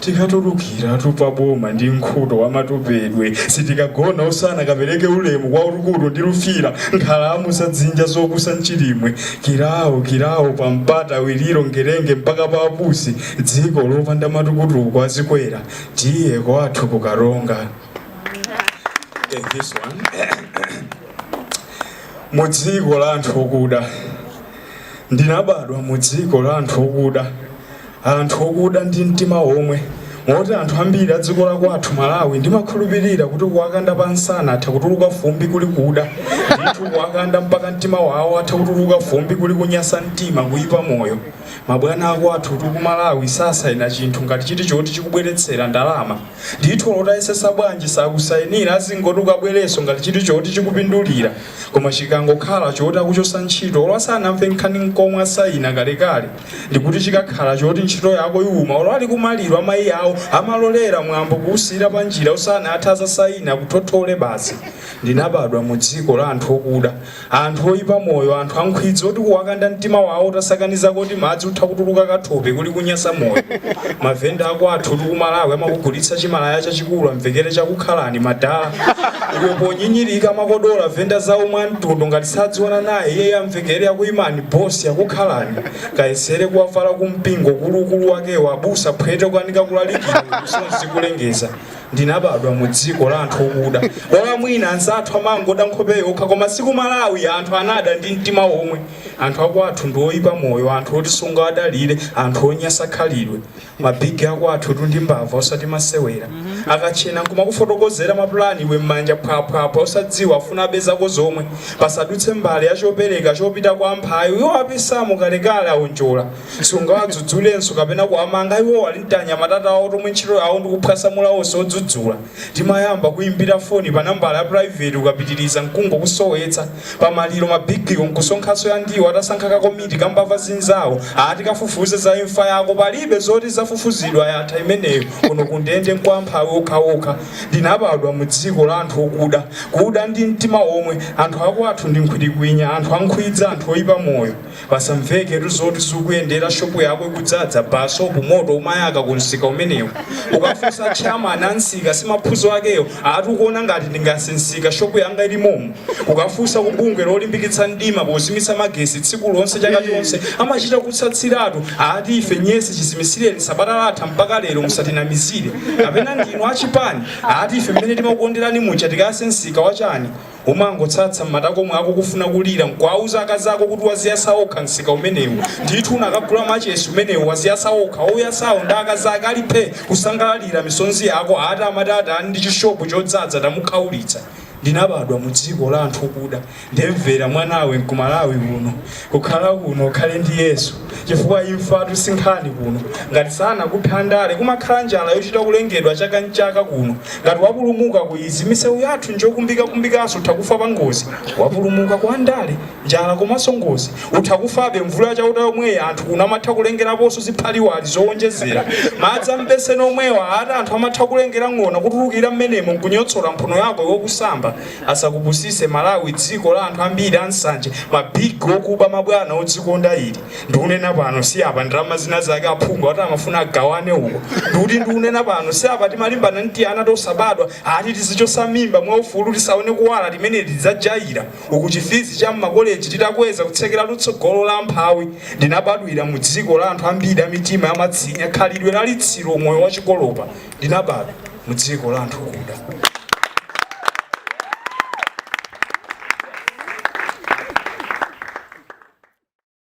Tikatulukiratu pa boma ndi nkhuto wa matopedwe sitikagona usana kapereke ulemu kwa Rukuru ndi lufira nkhalamu za dzinja zopusa mchilimwe kirawo kirawo pa mpata wiliro ngerenge mpaka pa pusi dziko lopanda matukutuku a zikwera tiye kwathu ku karonga Take this one. mu dziko la anthu okuda ndinabadwa mu dziko la anthu okuda anthu okuda ndi mtima omwe moti anthu ambiri adziko lakwathu Malawi ndimakhulupirira kuti kuwakanda pa nsana atha kutuluka fumbi kuli kuda ndithu kuwakanda mpaka mtima wawo atha kutuluka fumbi kuli kunyasa mtima kuipa moyo mabwana akwathutu kumalawi sasaina chinthu ngati chiti choti chikubweretsera ndalama ndithu olo utayesesa bwanji sakusainira azingoti ukabwereso ngati chiti choti chikupindulira koma chikangokhala choti akuchosa ntchito olo asanamve nkhani nkomwe asaina kalekale ndikuti chikakhala choti ntchito yako iwuma olo ali kumaliro amayi awo amalolera mwambo kuwusiyira panjira usanathe azasaine akuthothole basi ndinabadwa mu dziko la anthu okuda anthu oyipa moyo anthu ankhwidzi oti kuwakanda mtima wawo utasakanizako timadzi utha kutuluka kathope kuli kunyasa moyo mavenda akwathutu kumalawi amakugulitsa chimalaya chachikulu amvekere chakukhalani madala iwe ponyinyirika amakodola venda nzawo mwa mtundu ngati sadziwana naye iyeyo amvekere akuyimani boss akukhalani kayesere kuwavala kumpingo ukuluukulu wakewo abusa phwete kukanika kulalikira msonzi kulengeza ndinabadwa mu dziko la anthu okuda bola mwina anzathu amangoda nkhope yokha koma siku malawi anthu anada ndi mtima omwe anthu akwathu ndi oyipa moyo anthu oti sungawadalire anthu onyasa khalidwe ma big akwathutu ndi mbava osati masewera akatchena nkumakufotokozera mapulani iwe m'manja phwaphwaphwa osadziwa afuna abe zako zomwe pasadutse mbale ya chopereka chopita kwa amphawi iwo apisamo kalekale aonjola sungawadzudzulenso kapena kuwamanga iwo ali ndi tianyamata tawo tomwe ntchito yawo ndikuphwasamula onse odzudzula Timayamba kuimbira foni pa nambala ya private ukapitiliza nkungokusowetsa. Pa maliro ma big wo nkusonkhanso ya ndiwo atasankha ka komiti ka mbava zinzawo ati kafufuze za imfa yako palibe zoti izafufuzidwa yatha imeneyo kuno ku ndende nkwa amphawi okhaokha. Ndinabadwa mu dziko la anthu okuda, kuda ndi mtima omwe, anthu akwathu ndi nkhwitikwinya, anthu ankhwidzi, anthu oipa moyo. Pasamveketu zoti zikuyendera shop yako ikudzadza basopu moto umayaka ku msika umenewu ukafunsa chairman a msika si maphunzo akewo ati ukuona ngati ndingayase msika shop yanga ili momo ukafunsa ku bungwe lolimbikitsa mdima pozimitsa magesi tsiku lonse chaka chonse amachita kutsatsiratu ati ife nyesi chizimisireni sabata latha mpaka lero musatinamizire kapena ndinu achipani ati ife mmene timakukonderani muja tikayase msika wachani Umangotsatsa m'matako mwako kufuna kulira nkuwawuza akazi ako kuti waziyasa okha msika umenewu ndithu unakagula machesi umenewu waziyasa okha ouyasawo ndi akazi ake ali phe kusangalalira misonzi yako ati amati atani ndi chishopu chodzadza tamukhaulitsa. Ndinabadwa mu dziko la anthu okuda ndemvera mwanawe nkumalawi kuno. Kukhala kuno ukhale ndi Yesu chifukwa imfatu si nkhani kuno. Ngati sanakuphe andale, kumakhala njala yochita kulengedwa chaka n'chaka kuno. Ngati wapulumuka ku izi, misewu yathu n'njokumbikakumbikanso utha kufa pangozi. Wapulumuka ku andale, njala komanso ngozi, utha kufabe. Mvula ya Chauta yomweyi anthu kuno amatha kulengeraponso ziphaliwali zowonjezera. Madzi a m'beseni omwewa ati anthu amatha kulengera ng'ona kutulukira m'menemo n'kunyotsola mphuno yako iwe ukusamba. Asakupusise Malawi dziko la anthu ambiri ansanje ma big okuba mabwana odzikonda ili ndikunena pano si apa ndalama zinazake aphungu akuti amafuna agawane uko kuti ndikunena pano si apa timalimbana ndi tiana tosabadwa ati tizichosa mimba mwa ufulu tisaone kuwala timeneti tidzajaira uku chi fizi cha mma college titakweza kutsekeratu tsogolo la amphawi ndinabadwira mu dziko la anthu ambiri amitima yamatsinya khalidwe la litsiro moyo wachikolopa ndinabadwa mu dziko la anthu okuda